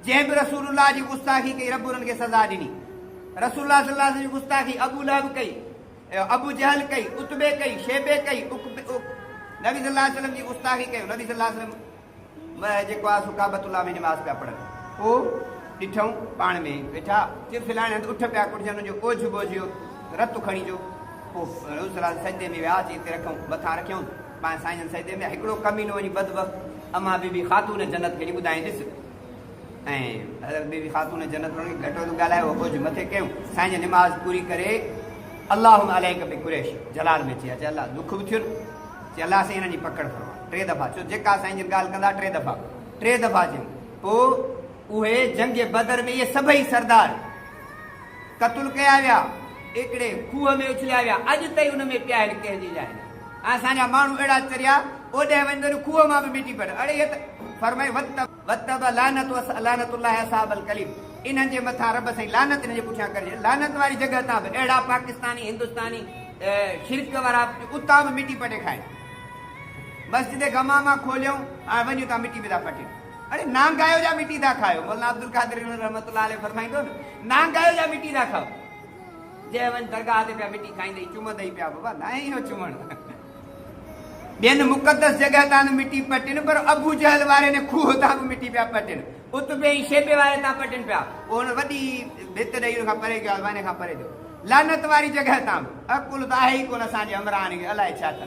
جنهن به رسول الله جي گستاخي ڪئي رب انهن کي سزا ڏني. رسول الله صلي الله عليه وسلم جي گستاخي ابو لهب ڪئي، ابو جهل ڪئي، عتبي ڪئي، شيبي ڪئي، نبي صلي الله عليه وسلم جي گستاخي ڪيو نبي صلي الله عليه وسلم مئه جيڪو آهي سو ڪعبت الله ۾ نماز پيا پڙهن پوء ڏٺئون پاڻ ۾ ئي ويٺا چرفلاڻي هنڌ اٺ پيا ڪڙجن انهن جو اوجهه ٻوجهه رت کڻي جو پوء رسول الله سجدي ۾ ويا اچي اتي رکئون مٿان رکيائون. مان سائين جن سيدي ۾ هڪڙو ڪمينو وڃي بدبخت اما بي بي خاتون جنت کي وڃي ٻڌائين ڏس ۽ حضرت بي بي خاتون جنت انهن کي گهٽو ٿو ڳالهائي اهو ٻجهه مٿي ڪيون سائين جي نماز پوري ڪري اللهم عليك بي قريش جلال ۾ چي اچي الله دک به ٿيون چي الله سائين هنن جي پڪڙ فرما ٽي دفعا چو جيڪا سائين جن ڳالهه ڪندا ٽي دفعا ٽي دفعا چيون پوء اهي جنگ بدر ۾ اهي سڀئي سردار قتل ڪيا ويا، ايڪڙي کوهه ۾ اڇليا ويا، اڄ تائين ان ۾ پيا آهن، ڪنهن جي لاء نه. ۽ اسان جا ماڻهو اهڙا چريا، اوڏهه وڃ ته ان کوهه مان به مٽي پئن. اڙي هي ته فرمائي وت. وت به لعنت وس لعنت الله اصحاب القليب انهن جي مٿان رب سائين لعنت انهن جي پٺيان ڪرجي لعنت واري جڳهه تان به اهڙا پاڪستاني هندستاني شرڪ وارا اتان به مٽي پٽي کائن مسجد غمامه کوليون ۽ وڃ اتان مٽي پيدا پٽين. اڙي نانگايو جا مٽي ٿا کائو مولانا عبدالقادر گهڻو رحمت الله عليه فرمائيندو نه نانگايو جا مٽي ٿا کائو جي وڃ درگاهه تي پيا مٽي کائيندي چمندي پيا بابا نه اهو چمڻ ٻين مقدس جڳهه تان به مٽي پٽن پر ابو جهل واري نه کوهه تان به مٽي پيا پٽن اتبي ۽ شيبي واري تان پٽن پيا پوء هن وڏي ڀت ڏيئي ان کان پري ڪيو آزمائن کان پري ٿيو لعنت واري جڳهه تان به عقل ته آهي ئي ڪونه اسان جي عمران کي الائي ڇا ٿا